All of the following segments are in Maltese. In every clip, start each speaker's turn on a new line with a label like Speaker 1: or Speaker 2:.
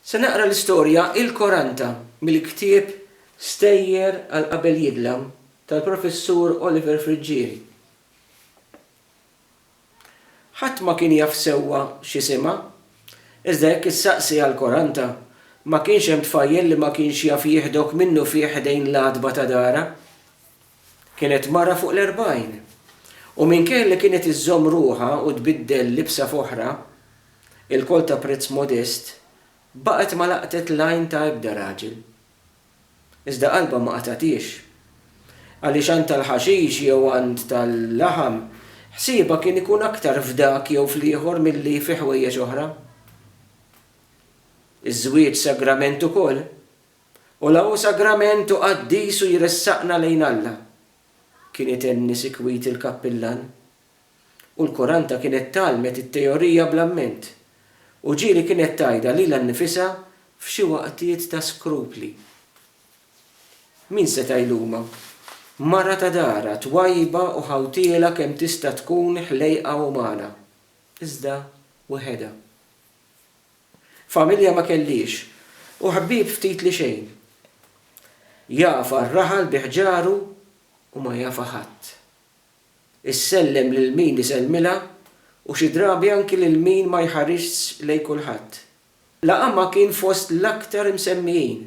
Speaker 1: Se naqra l-istorja Il Koranta mill-ktieb Stejjer għal qabel jidlam tal-Professur Oliver Friggieri. Ħadd ma kien jaf sewwa x'isimha, iżda jekk issaqsi għal Koranta, ma kienx hemm tfajjel li ma kienx jaf jieħdok minnufih ħdejn l-għatba ta' darha. Kienet mara fuq l-erbgħin, u minkejja li kienet iżżomm ruħha u tbiddel libsa f'oħra, ilkoll ta' prezz modest, baqgħet ma laqtet l-għajn ta' ebda raġel. Iżda qalbha ma qatgħathiex. Għaliex għand tal-ħaxix jew għand tal-laħam, ħsiebha kien ikun aktar f'dak jew fl-ieħor milli fi ħwejjeġ oħra. Iż-żwieġ sagrament ukoll. u la hu sagrament u qaddis u jressaqna lejn Alla, kien itenni sikwit il-kappillan. U l-kuranta kienet tgħallmet it-teorija bl-amment, u ġieli kienet tgħidha lilha nnifisha f'xi waqtiet ta' skrupli. Min seta' jlumha? Mara ta' darha, twajba u ħawtiela kemm tista' tkun ħlejqa umana, iżda wehedha. Familja ma kelliex u ħbieb ftit li xejn. Jagħfa r-raħal bi ħġaru u ma jagħfa ħadd. Issellem lil min isellmilha u xi drabi anki lil min ma jħarisx lejn kulħadd. Laqamha kien fost l-aktar imsemmijin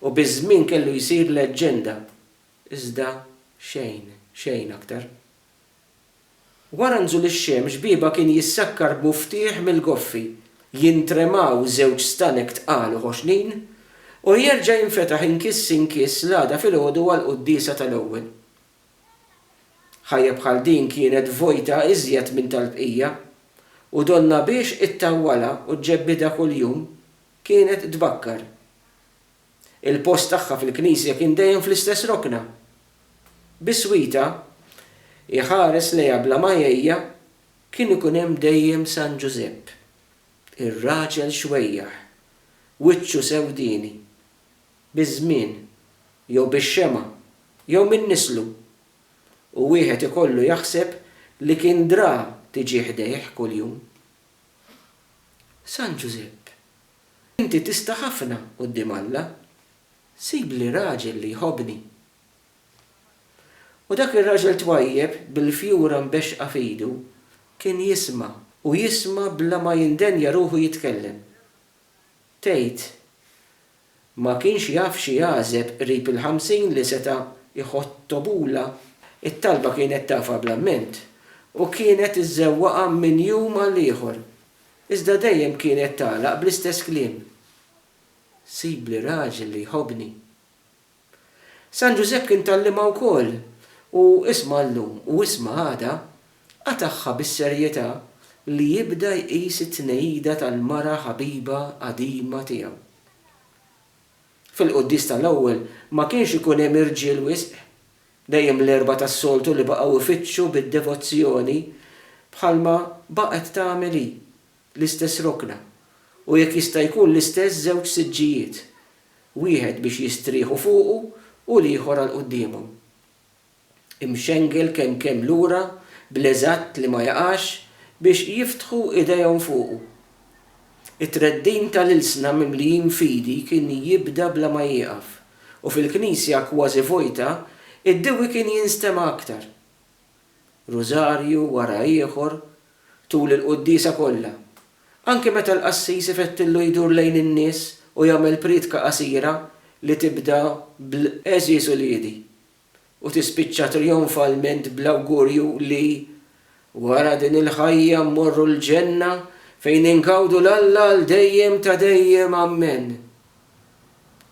Speaker 1: u biż-żmien kellu jsir leġġenda, iżda xejn, xejn aktar. Wara nżul ix-xemx biebha kien jissakkar b'muftieħ mill-goffi, jintremaw żewġ stanek tqal u ħoxnin, u jerġa' jinfetaħ inkiss inkiss l-għada filgħodu għall-quddiesa tal-ewwel. Ħajja bħal din kienet vojta iżjed minn tal-bqija, u donnha biex ittawwalha u ġġebbidha kuljum kienet tbakkar. Il-post tagħha fil-knisja kien dejjem fl-istess rokna. Biswita, iħares lejha bla ma jgħejja, kien ikun hemm dejjem San Ġużepp, ir-raġel xwejjaħ, wiċċu sewdieni. Biż-żmien, jew bix-xemgħa, jew minn nislu. U wieħed ikollu jaħseb li kien dra tiġi ħdejh kuljum. San Ġużepp Inti tista' ħafna quddiem Alla. Sibli raġel li jħobbni. U dak ir-raġel twajjeb bil-fjura mbexxqa f'idu kien jisma' u jisma' bla ma jindenja ruħu jitkellem. Tgħid, ma kienx jaf xi għażeb qrib il-ħamsin li seta' jħottobulha. It-talba kienet tafha bl-amment u kienet iżżewwaqha minn jum għal ieħor Iżda dejjem kienet tagħlaq bl-istess kliem, Sibli raġel li jħobbni. San Ġużepp kien tgħallimha wkoll u isma' llum u isma' għada qatagħha bis-serjetà li jibda jqis it-tnejida tal-mara ħabiba qadima tiegħu. Fil-quddies tal-ewwel ma kienx ikun hemm irġiel wisq, Dejjem l-Erbgħa tas-soltu li baqgħu ifittxu bid-devozzjoni bħalma baqgħet tagħmel hi, l-istess rokna, u jekk jista' jkun l-istess żewġ siġġijiet, wieħed biex jistrieħu fuqu u l-ieħor għal quddiemhom. Imxengel kemm kemm lura bl-eżatt li ma jaqax biex jiftħu idejhom fuqu. It-treddin tal-ilsna mimlijin fidi kien jibda bla ma jieqaf, u fil-knisja kważi vojta, id-dewwi kien jinstema' aktar. Rużarju wara ieħor, tul il-quddiesa kollha, anki meta l-qassis ifettillu jdur lejn in-nies u jagħmel prietka qasira li tibda bl-Għeżież uliedi, u tispiċċa trijonfalment bl-awgurju li, wara din il-ħajja mmorru l-ġenna fejn ingawdu 'l Alla għal dejjem ta' dejjem Ammen.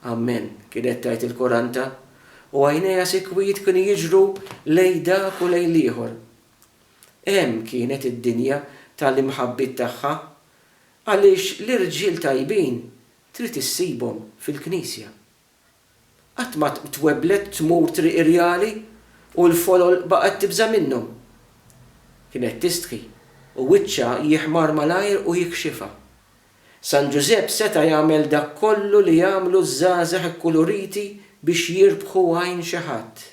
Speaker 1: Ammen, kienet tgħid il-kuranta, u għajnejha sikwit kienu jiġru lejn dak u lejn l-ieħor. Hemm kienet id-dinja ta' l-imħabbiet tagħha, għaliex l-irġiel tajbin trid issibhom fil-Knisja. Qatt ma twebblet tmur triq irjali u l-folol baqgħet tibża' minnhom. Kienet tistħi u wiċċha jiħmar malajr u jikxifha. San Ġużepp seta' jagħmel dak kollu li jagħmlu ż-żgħażagħ ikkuluriti biex jirbħu għajn xi ħadd.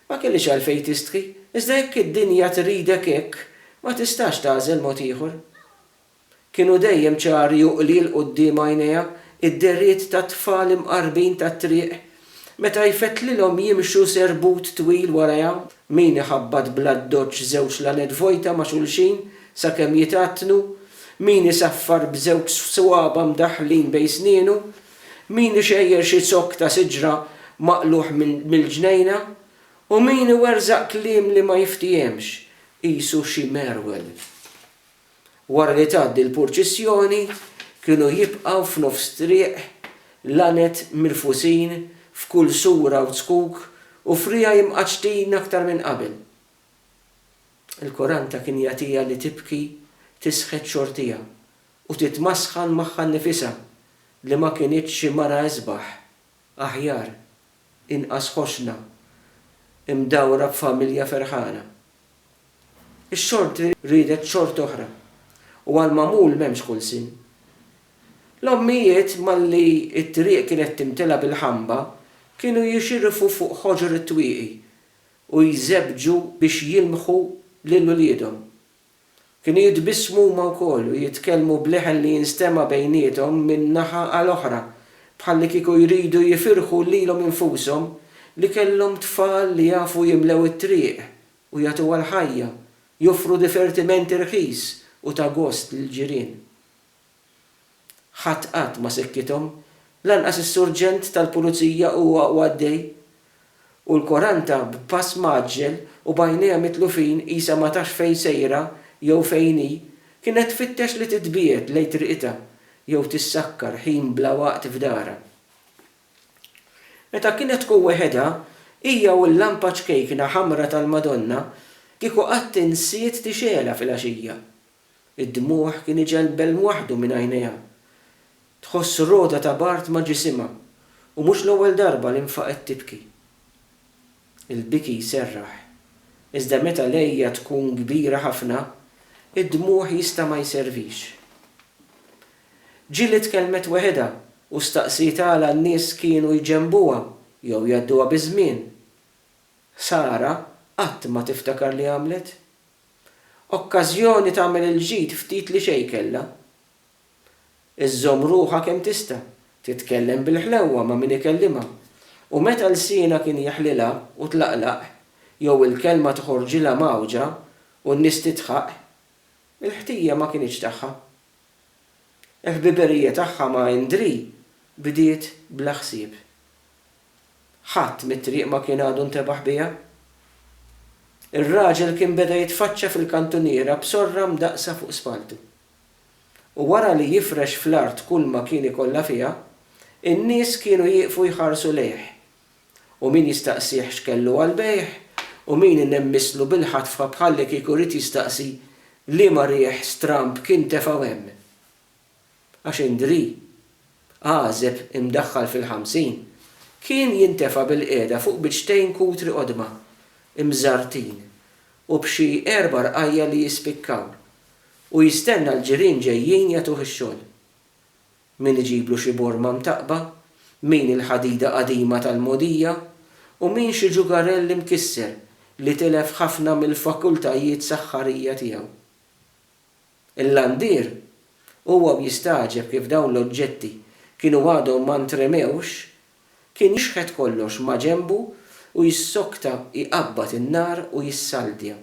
Speaker 1: Ma kellix għalfejn tistħi, iżda jekk id-dinja tridek hekk, ma tistax tagħżel mod ieħor. Kienu dejjem ċari u qlil quddiem għajnejha d-dehriet tat-tfal imqarrbin tat-triq meta jfettlilhom jimxu serbut twil warajha, min iħabbat bl-addoċċ żewġ laned vojta ma' xulxin sakemm jitgħattnu, min isaffar b'żewġ swaba' mdaħħlin bejn snienu, min ixejjer xi zokk ta' siġra maqlugħ mill-ġnejna, u min iwerżaq kliem li ma jiftiehemx, qisu xi merwel. Wara li tgħaddi l-purċissjoni kienu jibqgħu f'nofs triq l-għanet mirfusin f'kull sura u zkuk u friegħi imqaċċtin aktar minn qabel. Il-koranta kien jagħtiha li tibki tisħet xortija u titmasħan magħha nnifisha li ma kinitx xi mara isbaħ Aħjar, inqas ħossna mdawra b'familja ferħana. Ix-xorti riedet xorti oħra, u għall-magħmul m'hemmx kull sin. L-ommijiet malli t-triq kienet timtela bil-ħamba kienu jixirfu fuq ħoġor it-twieqi u jżebbġu biex jilmħu lil uliedhom. Kienu jitbissmu huma wkoll u jitkellmu b'leħen li jinstema' bejniethom minn naħa għal oħra, bħallikieku jridu jifirħu lilhom infushom li kellhom tfal li jafu jimlew it-triq u jagħtuha l-ħajja, joffru difertiment irħis u ta' gost lill-ġirien. Ħadd qatt ma sekkithom, lanqas is-surġent tal-pulizija u huwa għaddej. U l-Quaranta b'pass mgħaġġel u b'għajnejha mitlufin qisha ma tafx fejn sejra jew fejn hi, kienet tfittex li titbiegħed lejn triqitha jew tissakkar ħin bla waqt f'darha. Meta kienet tkun weħedha, hija u l-lampa ċkejkna ħamra tal-Madonna kieku qatt insiet tixgħelha filgħaxija. Id-dmugħ kien iġegħel belm waħdu minn għajnejha. Tħoss rogħda ta' bard ma' ġisimha u mhux l-ewwel darba li nfaqgħet tibki. Il-biki jserraħ, iżda meta l-għeja tkun kbira ħafna, id-dmugħ jista' ma jservix. Jill itkellmet weħidha u staqsiet għala n-nies kienu jġenbuha jew jgħadduha biż-żmien. Sara qatt ma tiftakar li għamlet. Okkażjoni tagħmel il-ġid ftit li xejn kellha. Iżżomm ruħha kemm tista', titkellem bil-ħlewwa ma' min ikellimha, u meta lsienha kien jeħlilha u tlaqlaq, jew il-kelma toħorġilha mgħawġa u n-nies tidħaq, il-ħtija ma kinitx tagħha. Il-ħbiberija tagħha ma' Indrì bdiet bla ħsieb. Ħadd mit-triq ma kien għadu ntebaħ biha. Ir-raġel kien beda jitfaċċa fil-kantuniera b'sorra mdaqqsa fuq spalltu. U wara li jifrex fl-art kulma kien ikollha fiha, in-nies kienu jieqfu jħarsu lejh. U min jistaqsih x'kellu għall-bejgħ, u min inemmisslu bil-ħatfha bħallikieku ried jistaqsi liema riħ stramb kien tefgħu hemm. għax Indri, għażeb imdaħħal fil-ħamsin, kien jintefa' bilqiegħda fuq biċċtejn kutri qodma, imżarrtin, u b'xi erba' rqajja' li jispikkaw, u jistenna l-ġirien ġejjin jagħtuh ix-xogħol. Min iġiblu xi borma mtaqqba, min il-ħadida qadima tal-mogħdija, u min xi ġugarell imkisser li tilef ħafna mill-fakultajiet saħħarija tiegħu. Il-landier huwa u jistagħġeb kif dawn l-oġġetti kienu għadhom ma ntremewx, kien jixħet kollox maġenbu u jissokta jqabbad in-nar u jissaldja.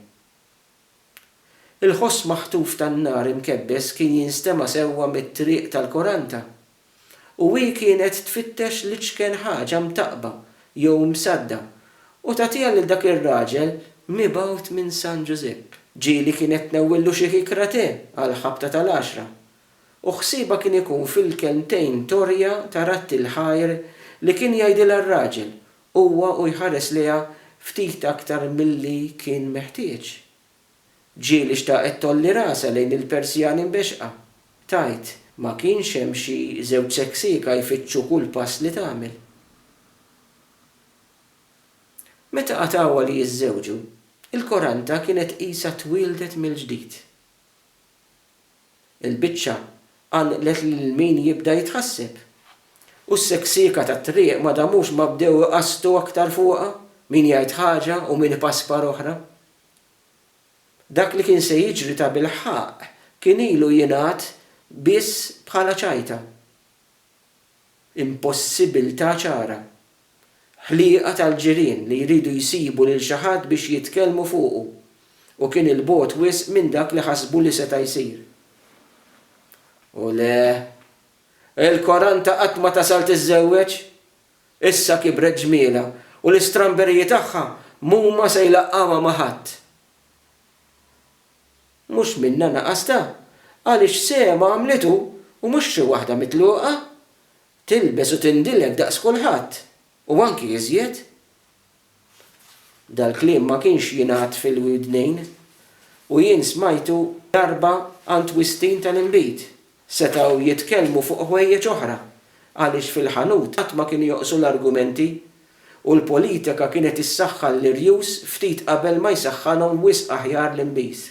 Speaker 1: Il-ħoss maħtuf tan-nar imkebbes kien jinstema' sewwa mit-triq tal-Koranta. u hi kienet tfittex l-iċken ħaġa mtaqqba jew msadda u tagħtiha lil dak ir-raġel mibgħut minn San Ġużepp. Ġieli kienet tnewwillu xi kikra te għall-ħabta tal-għaxra u ħsiebha kien ikun fil-kelmtejn torja ta' Ratti l-Ħajr li kien jgħidilha r-raġel huwa u jħares lejha ftit aktar milli kien meħtieġ. Ġieli xtaqet tgħolli rasha lejn il-persjani mbexxqa. Tgħid, Ma kienx hemm xi żewġ seksieka jfittxu kull pass li tagħmel. Meta qatgħuha li jiżżewġu, il-koranta kienet qisha twieldet mill-ġdid. Il-biċċa qanqlet lil min jibda jitħasseb. U s-seksieka tat-triq ma damux ma bdew iqassdu aktar fuqha, min jgħid ħaġa u min ipaspar oħra. Dak li kien se jiġri tabilħaqq kien ilu jingħad biss bħala ċajta. Impossibbiltà ċara. Ħliqa tal-ġirien li jridu jsibu lil xi ħadd biex jitkellmu fuqu u kien 'il bogħod wisq minn dak li ħasbu li seta' jsir. U le, il-Koranta qatt ma tasal tiżżewweġ! Issa kibret ġmielha u l-istramberiji tagħha m'huma se jlaqqgħuha ma' ħadd. Mhux minnha naqastha, għaliex sehemha għamlitu u mhux xi waħda mitluqa. Tilbes u tindilek daqs kulħadd u anki iżjed. Dal-kliem ma kienx jingħad fil-widnejn u jien smajtu darba għand wistin tal-inbid. Setgħu jitkellmu fuq ħwejjeġ oħra għaliex fil-ħanut qatt ma kienu joqsu l-argumenti u l-politika kienet issaħħan l-irjus ftit qabel ma jsaħħanhom wisq aħjar l-inbiż.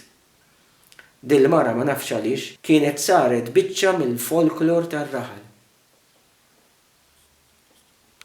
Speaker 1: Dil-mara ma nafx għaliex kienet saret biċċa mill-folklor tar-raħal.